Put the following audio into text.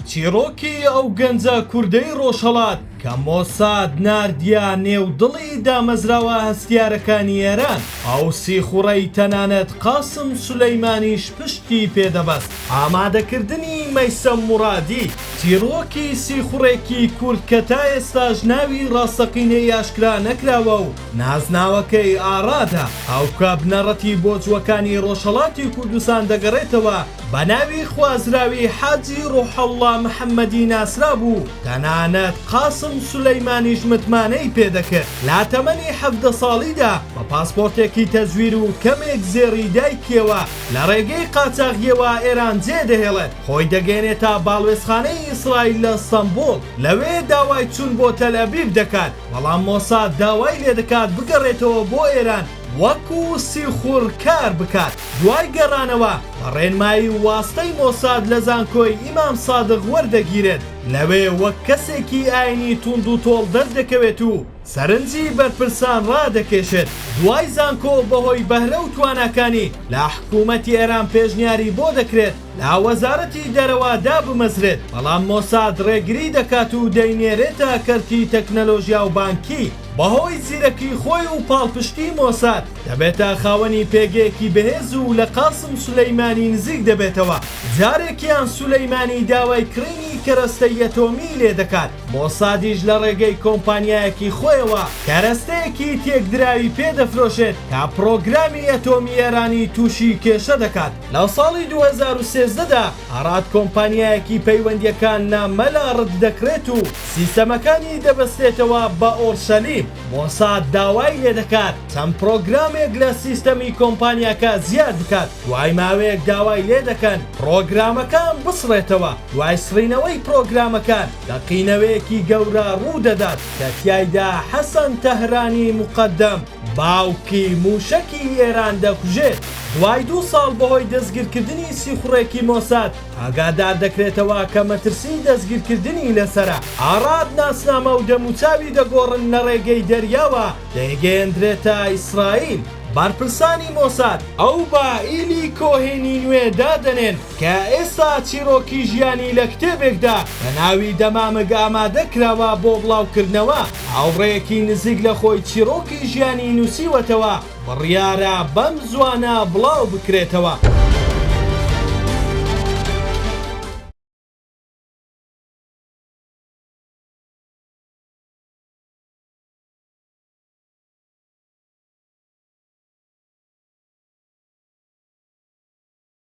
چیڕۆکی ئەو گەنجە کوردەی ڕۆژهەڵات کە مۆساد ناردیە نێو دڵی دامەزراوە هەستیارەکانی ئێران، ئەو سیخوڕەی تەنانەت قاسم سولەیمانیش پشتی پێ دەبەست. ئامادەکردنی، مەیسەم موڕادی. چیڕۆکی سیخوڕێکی کورد کە تا ئێستاش ناوی ڕاستەقینەی ئاشکرا نەکراوە و نازناوەکەی ئاڕادە، ئەو کە بنەڕەتی بۆ جووەکانی ڕۆژهەڵاتی کوردستان دەگەڕێتەوە، بە ناوی خوازراوی حاجی ڕوحەڵڵا محەممەدی ناسرابوو، تەنانەت قاسم سولەیمانیش متمانەی پێ دەکرد، لە تەمەنی حەڤدە ساڵیدا بە پاسپۆرتێکی تەزویر و کەمێک زێڕی دایکیەوە لە ڕێگەی قاچاغیەوە ئێران جێ دەهێڵێت، خۆی دەگەێنێتە باڵوێزخانەی ئیسرائیل لە ستەنبوڵ، لەوێ داوای چون بۆ تەلئەبیب دەکات، بەڵام مۆساد داوای لێدەکات بگەڕێتەوە بۆ ئێران، وەکو سیخوڕ کار بکات. دوای گەڕانەوە بە ڕێنمایی و واستەی مۆساد لە زانکۆی ئیمام سادق وەردەگیرێت، لەوێ وەک کەسێکی ئاینی توندوتۆڵ دەردەکەوێت و سەرنجی بەرپرسان ڕادەکێشێت، دوای زانکۆ بەهۆی بەهرە و تواناکانی لە حکومەتی ئێران پێشنیاری بۆ دەکرێت لە وەزارەتی دەرەوە دابمەزرێت، بەڵام مۆساد ڕێگری دەکات و دەینێرێتە کەرتی تەکنەلۆژیا و بانکی. بەهۆی زیرەکی خۆی و پاڵپشتی مۆساد دەبێتە خاوەنی پێگەیەکی بەهێز و لە قاسم سولەیمانی نزیک دەبێتەوە، جارێکیان سولەیمانی داوای کڕینی کەرەستەی ئەتۆمیی لێ دەکات، مۆسادیش لە ڕێگەی کۆمپانیایەکی خۆیەوە کەرەستەیەکی تێکدراوی پێ دەفرۆشێت کە پڕۆگرامی ئەتۆمی ئێرانی تووشی کێشە دەکات، لە ساڵی دوو هەزار و سێزدە دا. ئاراد کۆمپانیایەکی پەیوەندیەکان نا مەلا رد دەکرێت و سیستەمەکانی دەبەستێتەوە بە ئۆرشەلیم مۆساد داوای لێدەکات چەند پرۆگرامێک لە سیستەمی کۆمپانیاکە زیاد بکات دوای ماوەیەک داوای لێدەکەن پرۆگرامەکان بسڕێتەوە دوای سڕینەوەی پرۆگرامەکان لەقینەوەیەکی گەورە روودەدات کە تیایدا حەسەن تەهرانی موقەدەم باوکی مووشەکی ئێران دەکوژێت. دوای دوو ساڵ بەهۆی دەستگیرکردنی سیخوڕێکی مۆساد، ئاگادار دەکرێتەوە کە مەترسیی دەستگیرکردنی لەسەرە. ئاراد ناسنامە و دەموچاوی دەگۆڕن لە ڕێگەی دەریاوە دەیگەیەندرێتە ئیسرائیل. بەرپرسانی مۆساد ئەو بە ئیلی کۆهێنی نوێ دادەنێن. کە ئێستا چیڕۆکی ژیانی لە کتێبێکدا بە ناوی دەمامک ئامادە کراوە بۆ بڵاوکردنەوە، هاوڕێیەکی نزیک لە خۆی چیڕۆکی ژیانی نووسیوەتەوە، بڕیارە بەم زووانە بڵاو بکرێتەوە.